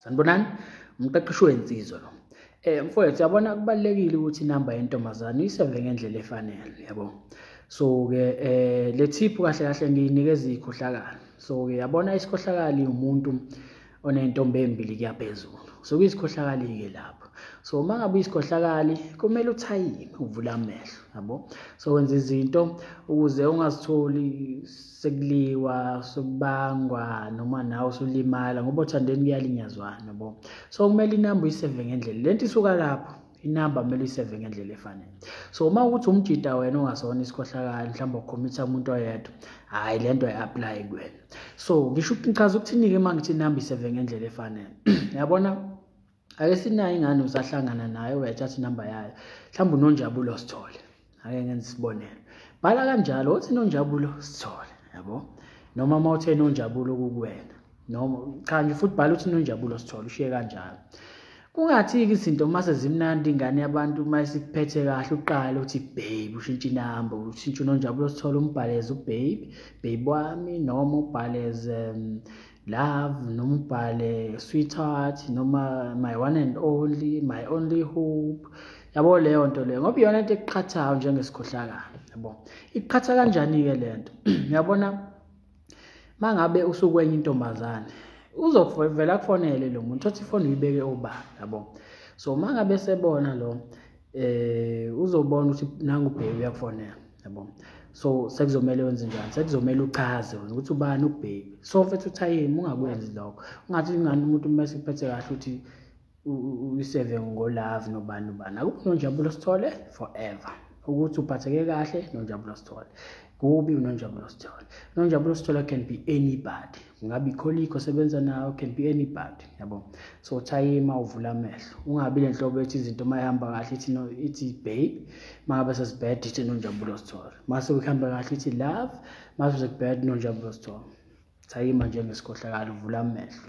sanibonani umqeqeshi wensizwa lo eh mfowethu yabona kubalekile ukuthi inamba yentombazane isenze ngendlela efanele yabo so ke eh le tip kahle kahle ngiyinikeza ikhohlakala so ke yabona isikhohlakali umuntu onentombi embili kuyaphezulu so kuyisikhohlakali ke lapho so uma ngabe uyisikhohlakali kumele uthayime uvule amehlo yabo so wenza izinto ukuze ungazitholi sekuliwa sekubangwa noma nawe usulimala ngoba othandeni kuyalinyazwana yabo so kumele inamba uyiseve ngendlela lento isuka lapho inamba kumele uyiseve ngendlela efanele so uma ukuthi umjida wena ongasona isikhohlakali mhlawumbe ukhomitha umuntu oyedwa hhayi le nto ayi-aplayi kuwena so ngisho ngichaza ukuthinike uma ngithi inamba iseve ngendlela efanele yabona ake sinayo ingane usahlangana nayo uyathatha inamba yayo mhlawumbe unonjabulo sithole ake ngenza isibonelo bhala kanjalo othi nonjabulo sithole yabo noma uma uthe nonjabulo kukuwena noma cha nje futhi bhala uthi nonjabulo sithole ushiye kanjalo kungathiki izinto uma sezimnandi ingane yabantu uma isikuphethe kahle uqale uthi babe ushintshe inamba ushintshe unonjabulo sithole umbhaleze ubabe babe wami noma ubhaleze um, love noma ubhale sweetheart noma my one and only my only hope yabo leyo nto leyo ngoba iyona into ekuqhathayo njengesikhohlakala yabo ikuqhatha kanjani-ke le nto uyabona uma ngabe usukwenye intombazane uzovela kufonele lo muntu othi ifoni uyibeke obani yabo so uma ngabe sebona lo eh uzobona ukuthi nangu ubheki uyakufonela yabo so sekuzomela wenze njani sekuzomela uchaze wena ukuthi ubani ubheki so mfethu uthayimi ungakwenzi lokho ungathi ingane umuntu uma sekuphethe kahle ukuthi uyiseve ngolove nobani ubani akukho nonjabulo sithole forever ukuthi uphatheke kahle nonjabulo sithole kubi unonjabulo sithole unonjabulo sithole can be anybody ingabe ikholikho osebenza nayo can be anybody yabo so thayima uvula amehlo ungabi le nhlobo ethi izinto uma ihamba kahle ithi no ithi babe uma ngabe sesibad ithi nonjabulo sithole uma sekuhamba kahle ithi love uma sekubad nonjabulo sithole thayima njengesikhohlakali uvula amehlo